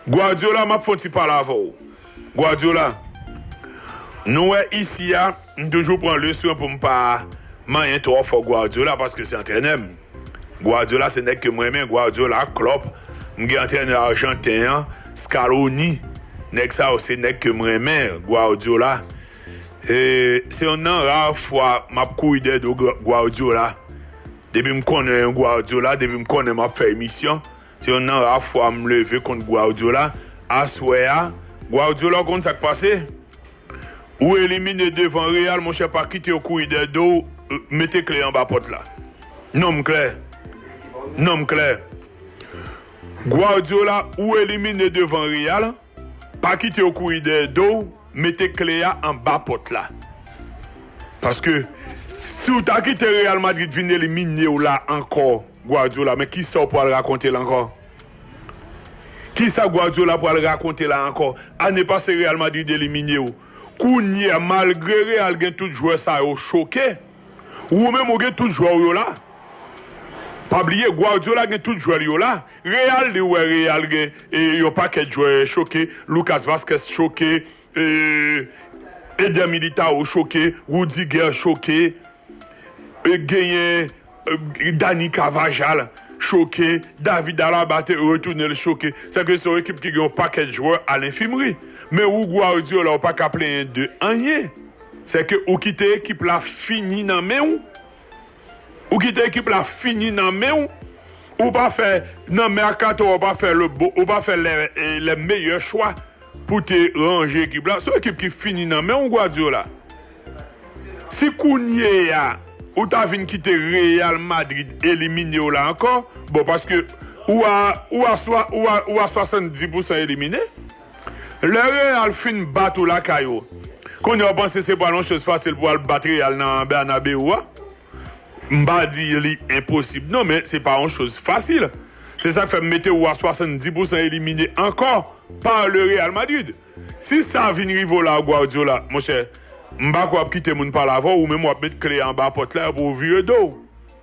Guardiola map fon ti pale avè w Guardiola nou wè isi a m toujou pran le swen pou m pa manyen twò fò Guardiola paske se antrènè m Guardiola se nèg ke m renmen Guardiola Klopp m gen antrènè arjanten an Scaloni nèg sa yo se nèg ke m renmen Guardiola se yonn nan ra fwa map kouri dèyè do Guardiola depi m konnen Guardiola depi m konnen map fè emisyon. Se yonn nan ra fwa m leve kont Guardiola aswè a. Guardiola, w konn sa k pase? Ou elimine devan Real, monchè, pa kite yo kouri dèyè do w, mete kle anba pòt la. Non m klè. Non m klè. Guardiola, ou elimine devan Real. Pa kite yo kouri dèyè do w, mete kle a anba pòt la. Paske si w ta kite Real Madrid vin elimine w la ankò Guardiola men kisa w pral rakonte la ankò? Kisa Guardiola pral rakonte la ankò? Ane pase Real Madrid elimine w, kounye a malgre Real gen tout jwè sa yo choke, ou menm ou gen tout jwè w yo la. Pa bliye Guardiola gen tout jwè l yo la. Real li wè real gen yon pakèt jwè choke Lucas Vazquez choke Eder Militao choke Rudiger choke genyen Dani Carvajal choke David Alaba te retounen l choke sa vle di se yon ekip ki gen yon pakèt jwè a lenfimri men ou Guardiola ou paka plenyen de anyen se ke ou kite ekip la fini nan men w. Ou kite ekip la fini nan men w, ou pa fè nan mercato a ou pa fè le bon ou pa fè les meilleurs choix pou te ranje ekip la, se yon ekip ki fini nan men w Guardiola. Si kounye a ou ta vin kite Real Madrid elimine w la ankò, bon paske ou a ou a ou a 70 pousan elimine. Lè Real fin bat ou lakay ou, konnya ou panse se pral yon choz fasil pou al bat Real nan Bernabeu a? M pa di li enposib non, men se pa yon choz fasil. Se sak fè m mete ou a 70 pousan elimine ankò pa le Real Madrid. Si sa vin rive w la Guardiola, monchè, m pa kwè w ap kite moun pale avè w, ou menm w ap met kle a anba pòt la epi w vire do w.